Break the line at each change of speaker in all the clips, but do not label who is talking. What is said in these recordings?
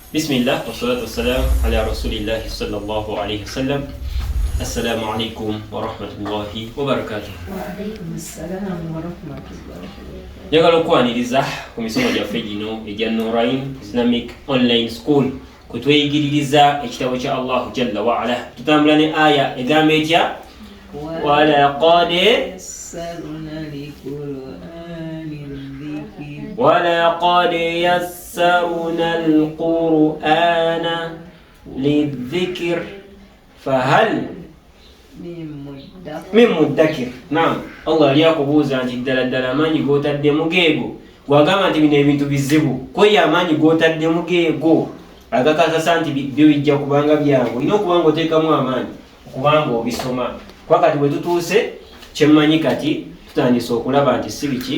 Bismillah wassalatu wassalam ala rasulillahi sallallahu alayhi wasallam. Assalamu alaikum warahmatullahi
wabarakatuh. Njagala okwaniriza
ku misomo gyaffe gino egya Nurain Islamic Online School kutweyigiririza ekitabo kya Allahu jalla waala. Tutambula ne aya egamba etya? walaqad
walaqad
yas yassarna alqur'ana lidhikr fahal min muddakir naam allah ali akubuuza nti ddala ddala amaanyi g'otaddemu geego wagamba nti bino ebintu bizibu kweyo amaanyi g'otaddemu geego agakakasa nti byo bijja kubanga byangu olina okuba nga oteekamu amaanyi okuba nga obisoma kuba kati bwe tutuuse kyemmanyi kati tutandise okulaba nti si biki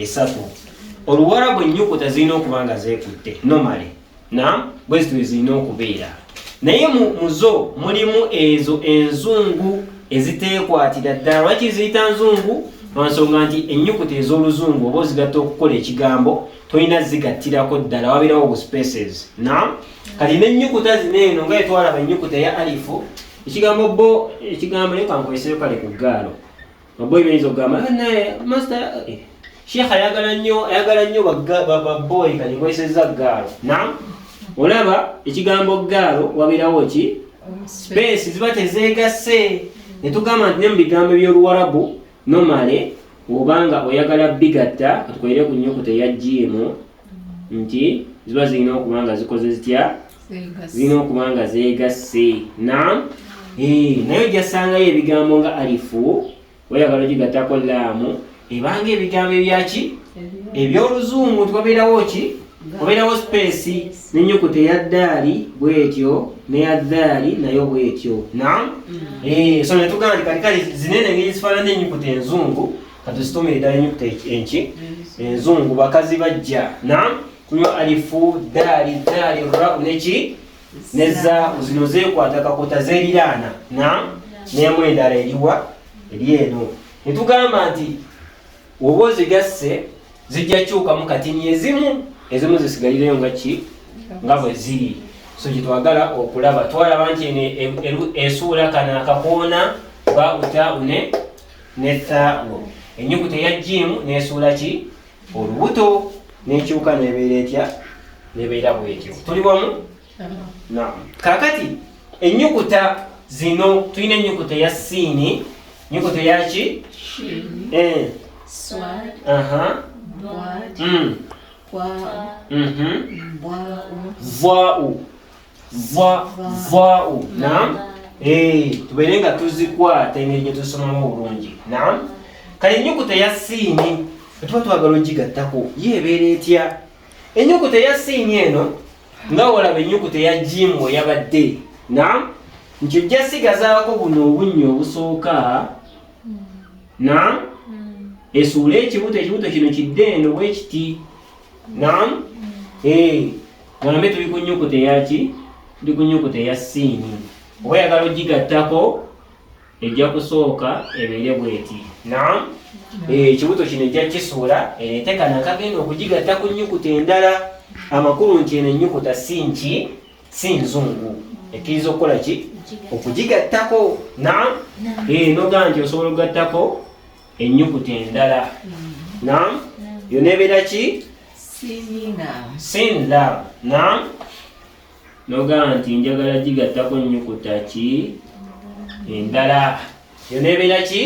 esatu oluwarabu ennyukuta zirina okuba nga zeekutte nomale na bwezito ezirina okubeera naye mu zo mulimu ezo enzungu eziteekwatira ddala lwaki ziyita nzungu lwansonga nti ennyukuta ez'oluzungu oba ozigatta okukola ekigambo tolina zigattirako ddala wabeerawo obuspaces na kati n'ennyukuta zino eno nga etwalaba ennyukuta ya alifu ekigambo bo ekigambo leka nkoleseyo kale ku ggaalo Maboy bayinza okugamba ah, naye master eh, sheikh ayagala nnyo ayagala nnyo baboyi kati kwesezza gaalo nam olaba ekigambo gaalo wabeerawo ki space ziba tezeegasse ne tugamba nti ne mu bigambo by'oluwarabu nomale obanga oyagala bigatta atukolere ku nyukuta eya jiimu nti ziba zirina okuba nga zikoze zitya zirina okuba nga zeegasse na eh, naye ojjasangayo ebigambo nga alifu weyagala ogigattako laamu ebanga ebigambo ebyaki ebyoluzungu nti wabeerawo ki wabeerawo sipeesi nenyukuta eyaddaali bwetyo neyaddaali nayo bwetyo na mm. eh, so netugamba nti katikali zinene ngeri zifaanana enyukuta enzungu katusitume edala enyukuta enki enzungu bakazi bajja na kunywa alifu daali daali ra neki neza zino zekwata kakota zeriraana na nemu endala eriwa eri eno netugamba nti oba ozigasse zijja kyukamu kati nyezimu ezimu zisigalireyo nga ki nga bwe ziri so gyetwagala okulaba twalaba nti eno esuula kana akakoona bauta une ne thaa'u ennyukuta eya jiimu n'esuula ki olubuto n'ekyuka n'ebeera etya n'ebeera bwetyo tuli wamu naamu kaakati ennyukuta zino tulina ennyukuta eya siini ennyukuta eya ki eh.
mm. vwaa'u va vao
naam eh, tubeere nga tuzikwata engeri gye tusomamu obulungi naam kale ennyukuta ya siini tuba twagala ogigattako ye ebeera etya ennyukuta ya siini eno nga olaba ennyukuta ya jimu eyabadde naam nti ojja sigazaako buno obunnya obusooka naam esuula ekibuto ekibuto kino kidde eno bwekiti Naam. Eh, ng'ambe tuli ku nnyukuta eyaki? Tuli ku nnyukuta eya siini. Oba yagala ogigattako ejja kusooka ebeere bweti. Naam. Eh, ekibuto kino ejja kisuula ereete kano akagenda okugigatta ku nnyukuta endala. Amakulu nti eno ennyukuta si nki? Si nzungu. Ekkiriza okukola ki? Okugigattako. Naam. Eh, noga nti osobola okugattako ennyukuta endala nam yona ebeera ki sin lab nam nogamba nti njagala gigattako nnyukuta ki endala yona ebeera ki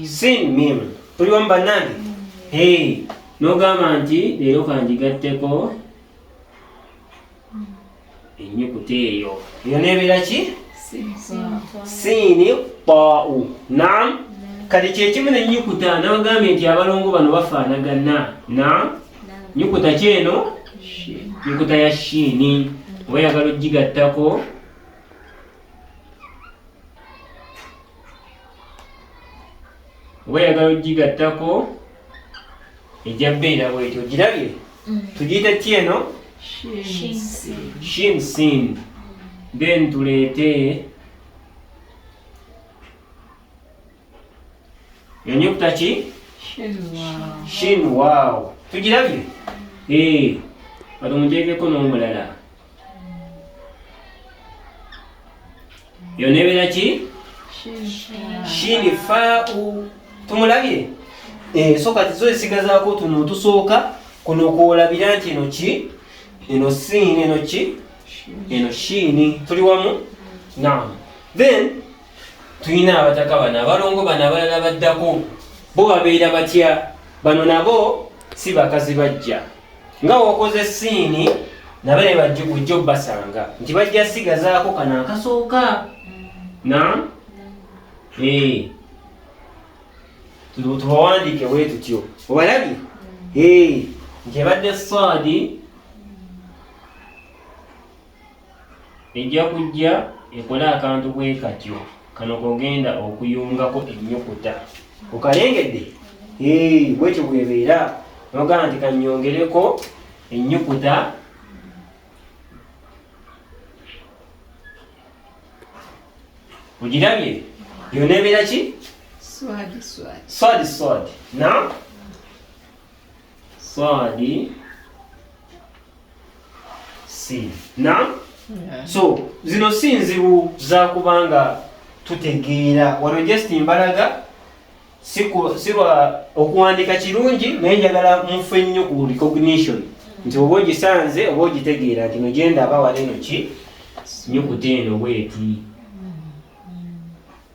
sin mim tuli wamu bannange nogamba nti leero kangigatteko ennyukuta eyo eyo nebeera ki siini pau nam kati kyekimu nenyukuta nabagambye nti abalongo bano bafaanagana na nyukuta ki eno nyukuta ya shiini oba yagala ogigattako oba yagala ogigattako ejja beera bwetyo ogirabye mm. tugiyita ki eno shinsin then tuleete enyukuta ki shin wow tugirabye ee eh, kati omuteekeko n'omulala yona ebeera ki shini fau tumulabye eh, so kati zo esigazaako tuno tusooka kuno kwolabira nti eno ki eno siini eno ki eno shiini tuli wamu nam then tulina abataka bano abalongo bano abalala baddako bo babeera batya bano nabo si bakazi bajja nga wokoze siini nabale bajjo basanga nti bajja sigazaako kana akasooka na eh. tubawandiike bwe tutyo obalabye mm. eh. nti ebadde saadi Ejja kujja ekole akantu bwe katyo. Kano kogenda okuyungako ennyukuta. Okalengedde? Hee, bwekyo bwebeera. Nogamba nti kanyongereko ennyukuta ogirabye yona ebeera ki swadi swadi na Swadi si na so zino si nzibu zakubanga tutegeera wano just mbalaga sirwa okuwandika kirungi naye njagala mufu ennyo ku recognition nti oba ogisanze oba ogitegeera nti nogenda aba wali eno ki nyukuta eno bweti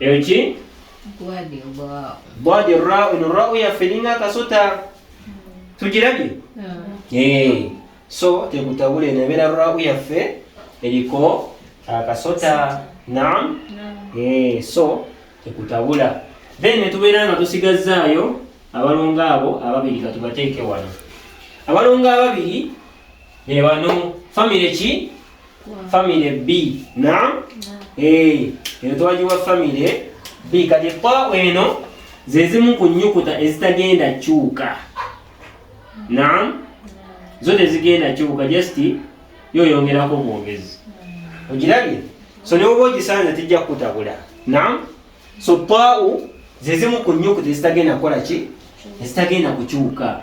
eyo ki bwadi raun rau yaffe ninga akasota tugirabye eh, so tekutabula eno ebeera rau yaffe eriko akasota nam eh, so tekutabula then netubeera nga tusigazzaayo abalongo abo ababiri katubateeke wano abalongo ababiri bebano famire ki family b na eh eno twagiwa family b kati pa eno ze zimu ku nyukuta ezitagenda kyuka na zo tezigenda kyuka just yo yongerako bwogezi ogirabye so ne oba ogisanze tijja kukutabula na so pau ze zimu ku nyukuta ezitagenda kukola ki ezitagenda kukyuka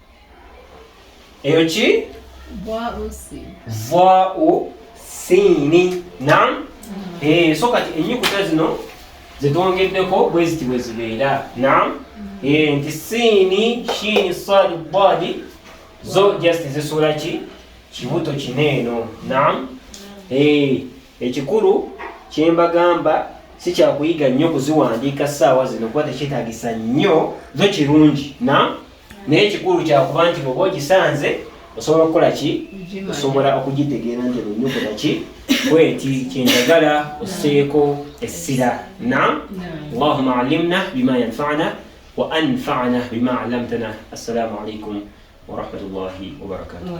eyo ki vau siini nam mm-hmm. eh, so kati enyukuta zino zetwongeddeko bweziti bwezibeera nam mm-hmm. eh, nti siini shiini sadi badi zo just zisuula ki kibuto kineeno nam mm-hmm. eh, Ekikulu kye mbagamba si kya kuyiga nnyo kuziwandiika ssaawa zino kuba tekyetaagisa nnyo zo kirungi na naye ekikulu kya kuba nti bwoba ogisanze osobola okukola ki osobola okugitegeera nti olunyukuta ki bweti kyendagala oseeko essira na allahuma alimna bima yanfana wa anfana bima alamtana assalamu alaikum warahmatullahi wabarakatuh